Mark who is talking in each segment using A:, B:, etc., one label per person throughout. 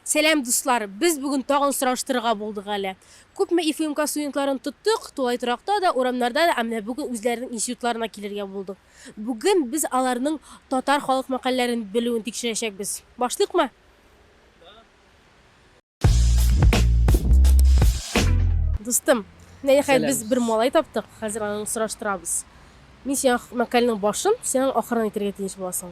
A: Сәлам дуслар! Без бүген тагын сораштырырга булдык әле. Күпме ИФМК студентларын тоттык, тулай торакта да, урамнарда да, ә менә бүген үзләренең институтларына килергә булдык. Бүген без аларның татар халык мәкальләрен белүен тикшерәчәкбез. Башлыйкмы? Дустым, менә нихәят Сәлам. без бер малай таптык, хәзер аны сораштырабыз. Мин сиңа мәкальнең башын, сиңа ахырын әйтергә тиеш буласың.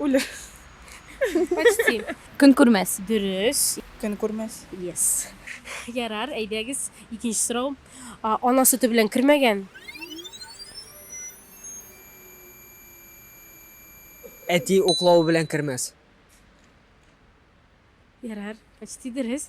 B: Үлер.
A: Почти. Көн күрмәс.
C: Дөрес. Көн
A: күрмәс.
B: Yes.
A: Ярар, әйдәгез, икенче сорау. Ана сөте белән кермәгән.
D: Әти уклавы белән кермәс.
A: Ярар, почти дөрес.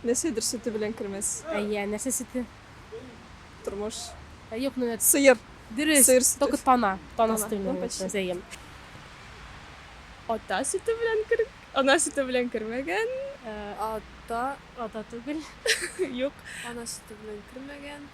B: Нәрсәдер сөте белән кермәс. Әйе, нәрсә сөте?
A: Тормыш.
B: Юк, менә.
A: Сыер. Дөрес.
B: Сыер сөте.
A: Только тана.
B: Тана сөте
A: белән кермәс.
B: Әйе. Ата сөте белән кер... Ана сөте белән кермәгән. Ата.
A: Ата түгел. Юк.
B: Ана сөте
E: белән кермәгән.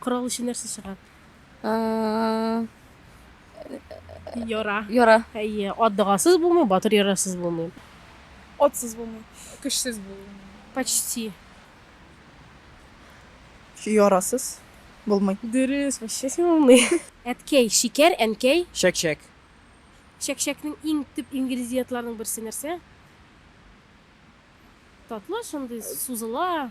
A: Корал өчен нәрсә чыга? Э, Яра. Яра. Әйе,
C: ат догасыз
A: булмый, батыр ярасыз булмый. Отсыз
B: булмый. Көчсез булмый. Почти. Ярасыз булмый. Дөрес, вообще
A: син умный. Әткәй, шикәр, әнкәй. Чәк-чәк. Чәк-чәкнең иң төп ингредиентларының берсе нәрсә? Татлы, шундый сузыла.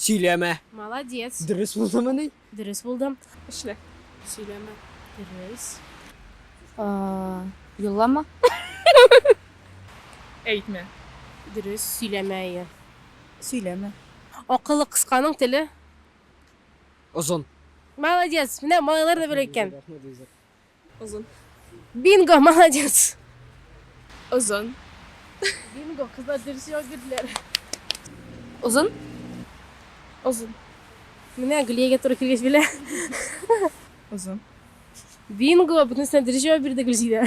A: Сөйләмә.
D: Молодец.
A: Дөрес булдымыни?
D: Дөрес булды.
A: Эшлә.
B: Сөйләмә.
E: Дөрес.
C: Юллама.
B: Әйтмә. Дөрес.
A: Сөйләмә, әйе. Сөйләмә.
B: Акылы
A: кысканың теле.
D: Озын. Молодец.
A: Менә малайлар да белә икән.
B: Озын. Бинго,
A: молодец. Озын. Бинго, кызлар дөрес
B: җавап
A: бирделәр.
C: Озын.
B: Озын.
A: Менә Гөлиягә туры килгәч белә.
B: Озын.
A: Бинго, бөтенесенә дөрес җавап бирде Гөлзидә.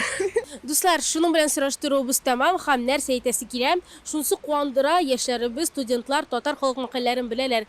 A: Дуслар, шуның белән сораштыруыбыз тәмам һәм нәрсә әйтәсе килә, шунысы куандыра, яшьләребез, студентлар татар халык мәкальләрен беләләр.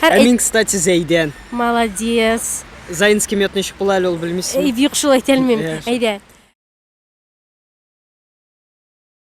D: Һәр Ә мин, кстати, Зәйдән. Молодец. Зайн с кем я
A: тнещик була әле
D: ул
A: белмисең.
D: Юк, шулай әйтә алмыйм. Әйдә.